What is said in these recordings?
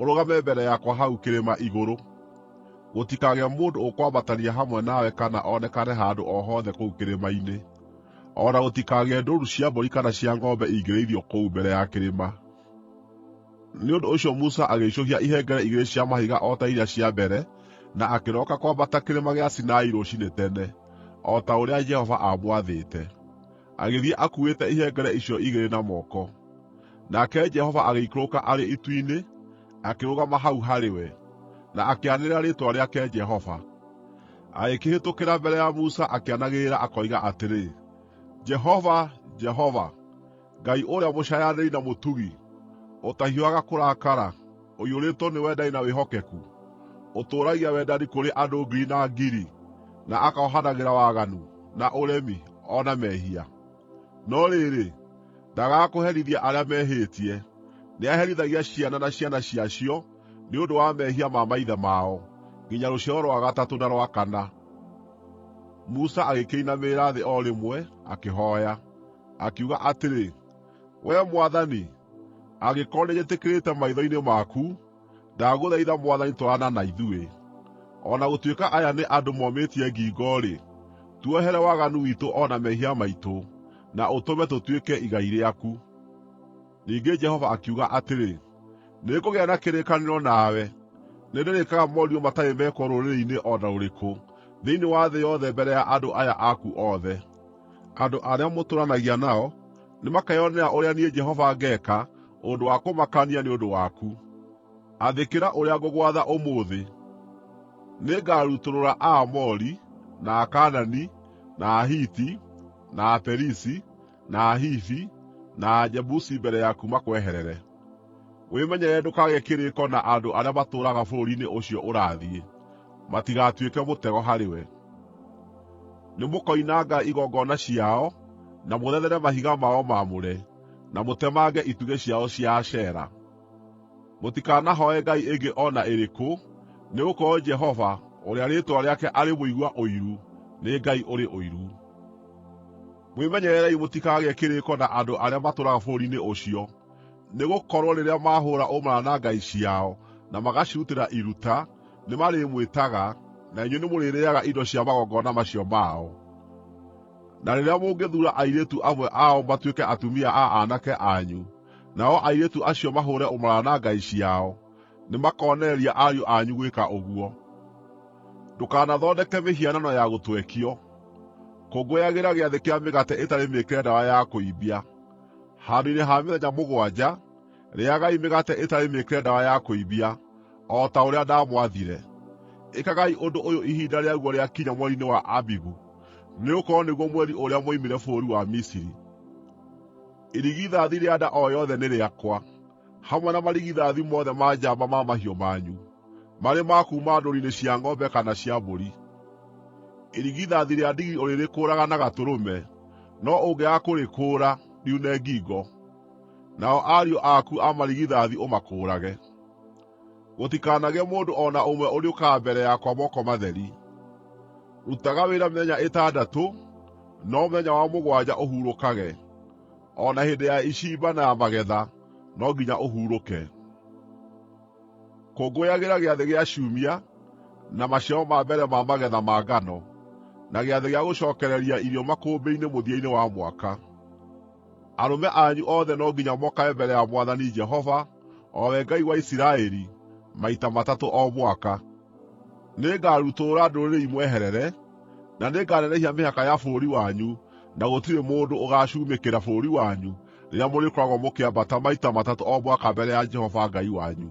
ũrũgame mbere yakwa hau kĩrĩma igũrũ. Gũtikagĩe mũndũ ũkwambatania hamwe nawe kana onekane handũ o hothe kũu kĩrĩma-inĩ, o na gũtikagĩe ndũũru cia mbũri kana cia ng'ombe ingĩrĩithio kũu mbere ya kĩrĩma.” Nĩ ũndũ ũcio Musa agĩicũhia ihengere igĩrĩ cia mahiga o ta iria cia mbere na akĩroka kwambata Kĩrĩma gĩa Sinai rũciinĩ tene, o ta ũrĩa Jehova aamwathĩte. agĩthiĩ akuuĩte ihengere icio igĩrĩ na moko. Nake Jehova agĩikũrũka arĩ itu-inĩ, akĩrũgama hau harĩ we, na akĩanĩrĩra rĩĩtwa rĩake Jehova. Agĩkĩhĩtũkĩra mbere ya Musa akĩanagĩrĩra akoiga atĩrĩ, “Jehova, Jehova, Ngai ũrĩa mũcaayanĩri na mũtugi, ũtahiũhaga kũrakara, ũiyũrĩtwo nĩ wendani na wĩhokeku, ũtũũragia wendani kũrĩ andũ ngiri na ngiri, na akohanagĩra waganu, na ũremi, o na mehia. No rĩrĩ, ndaagaga kũherithia arĩa mehĩtie; nĩaherithagia ciana na ciana ciacio nĩ ũndũ wa mehia ma maithe mao, nginya rũciaro rwa gatatũ na rwa kana. Musa agĩkĩinamĩrĩra thĩ o rĩmwe, akĩhooya, akiuga atĩrĩ: Wee mwathani, angĩkorwo nĩnjĩtĩkĩrĩkĩte maitho-inĩ maku, ndagũthaitha mwathani twarana na ithuĩ. O na gũtuĩka aya nĩ andũ momĩtie ngingo-rĩ, tuohere waganu witũ o na mehia maitũ, na ũtũme tũtuĩke igai rĩaku.” Ningĩ Jehova akiuga atĩrĩ, “Nĩngũgĩa na kĩrĩkanĩro nawe. Nĩndĩrĩĩkaga morirũ matarĩ mekwo rũrĩrĩ-inĩ o na rũrĩkũ thĩinĩ wa thĩ yothe mbere ya andũ aya aku othe. Andũ arĩa mũtũũranagia nao nĩmakeyonera ũrĩa niĩ Jehova ngeeka ũndũ wa kũmakania nĩ ũndũ waku. Athĩkĩra ũrĩa ngũgwatha ũmũthĩ: Nĩngarutũrũra Aamori, na Akaanani, na Ahiti, na Aperizi, na Ahivi, na Ajebusi mbere yaku makweherere. Wĩmenyerere ndũkagĩe kĩrĩĩko na andũ arĩa matũũraga bũrũri-inĩ ũcio ũrathiĩ, matigatuĩke mũtego harĩwe. Nĩmũkoinanga igongona ciao, na mũthethere mahiga mao maamũre, na mũtemange itugĩ ciao cia Ashera. Mũtikanahooe ngai ĩngĩ o na ĩrĩkũ, nĩgũkorwo Jehova, ũrĩa rĩĩtwa rĩake arĩ Mũigua-Ũiru, nĩ Ngai ũrĩ ũiru. Mwĩmenyererei mũtikagĩe kĩrĩĩko na andũ arĩa matũũraga bũrũri-inĩ ũcio, nĩgũkorwo rĩrĩa maahũũra ũmaraya na ngai ciao na magacirutĩra iruta, nĩmarĩmwĩtaga, na inyuĩ nĩmũrĩrĩĩaga indo cia magongona macio mao. Na rĩrĩa mũngĩthuura airĩtu amwe ao matuĩke atumia a aanake anyu, nao airĩtu acio mahũũre ũmaraya na ngai ciao, nĩmakoonereria ariũ anyu gwĩka ũguo. Ndũkanathondeke mĩhianano ya gũtwekio. Kũngũyagĩra Gĩathĩ kĩa Mĩgate ĩtarĩ Mĩĩkĩre Ndawa ya Kũimbia, handũ-inĩ ha mĩthenya mũgwanja. Rĩĩagai mĩgate ĩtarĩ mĩĩkĩre ndawa ya kũimbia, o ta ũrĩa ndamwathire. Ĩkagai ũndũ ũyũ ihinda rĩaguo rĩakinya mweri-inĩ wa Abibu, nĩgũkorwo nĩguo mweri ũrĩa mwoimire bũrũri wa Misiri. Irigithathi rĩa nda o yothe nĩ rĩakwa, hamwe na marigithathi mothe ma njamba ma mahiũ manyu, marĩ ma kuuma ndũũru-inĩ cia ng'ombe kana cia mbũri. Irigithathi rĩa ndigiri ũrĩrĩkũũraga na gatũrũme, no ũngĩaga kũrĩkũũra, riune ngingo. Nao ariũ aku a marigithathi ũmakũũrage. Gũtikanagĩe mũndũ o na ũmwe ũrĩũkaga mbere yakwa moko matheri. Rutaga wĩra mĩthenya ĩtandatũ, no mũthenya wa mũgwanja ũhurũkage. O na hĩndĩ ya icimba na ya magetha no nginya ũhurũke. Kũngũyagĩra Gĩathĩ gĩa Ciumia, na maciaro ma mbere ma magetha ma ngano, na Gĩathĩ gĩa Gũcookereria Irio Makũmbĩ-inĩ mũthia-inĩ wa mwaka. Arũme anyu othe no nginya mokage mbere ya Mwathani Jehova, o we Ngai wa Isiraeli, maita matatũ o mwaka. Nĩngarutũrũra ndũrĩrĩ imweherere, na nĩnganenehia mĩhaka ya bũrũri wanyu na gũtirĩ mũndũ ũgaacumĩkĩra bũrũri wanyu rĩrĩa mũrĩkoragwo mũkĩambata maita matatũ o mwaka mbere ya Jehova Ngai wanyu.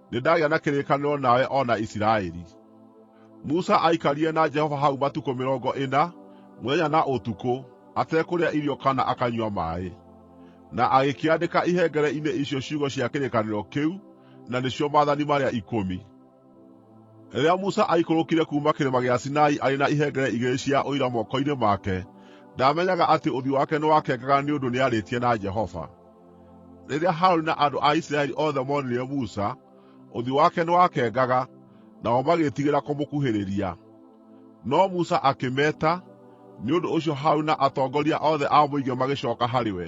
Nĩndagĩa na kĩrĩkanĩro nawe o na Isiraeli. Musa aaikarire na Jehova hau matukũ mĩrongo ĩna, mũthenya na ũtukũ, atekũrĩa irio kana akanyua maaĩ. Na agĩkĩandĩka ihengere-inĩ icio ciugo cia kĩrĩkanĩro kĩu, na nĩcio Maathani marĩa Ikũmi. Rĩrĩa Musa aaikũrũkire kuuma kĩrĩma gĩa Sinai arĩ na ihengere igĩrĩ cia Ũira moko-inĩ make, ndaamenyaga atĩ ũthiũ wake nĩwakengaga nĩ ũndũ nĩarĩtie na Jehova. Rĩrĩa Harũni na andũ a Isiraeli othe moonire Musa, ũthiũ wake nĩwakengaga, nao magĩĩtigĩra kũmũkuhĩrĩria. No Musa akĩmeeta, nĩ ũndũ ũcio Harũni na atongoria othe a mũingĩ magĩcooka harĩ we,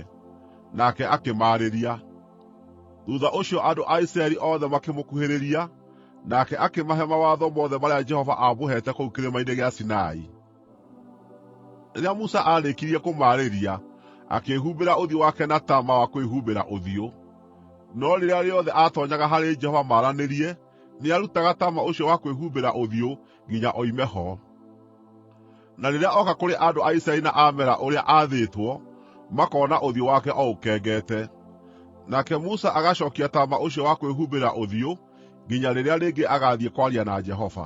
nake akĩmaarĩria. Thuutha ũcio andũ a Isiraeli othe makĩmũkuhĩrĩria, nake akĩmahe mawatho mothe marĩa Jehova aamũheete kũu Kĩrĩma-inĩ gĩa Sinai. Rĩrĩa Musa aarĩkirie kũmaarĩria, akĩĩhumbĩra ũthiũ wake na taama wa kwĩhumbĩra ũthiũ. No rĩrĩa rĩothe aatoonyaga harĩ Jehova maaranĩrie, nĩarutaga taama ũcio wa kwĩhumbĩra ũthiũ nginya oime ho. Na rĩrĩa oka kũrĩ andũ a Isiraeli na ameera ũrĩa aathĩtwo, makoona ũthiũ wake o ũkengete. Nake Musa agacookia taama ũcio wa kwĩhumbĩra ũthiũ, nginya rĩrĩa rĩngĩ agaathiĩ kwaria na Jehova.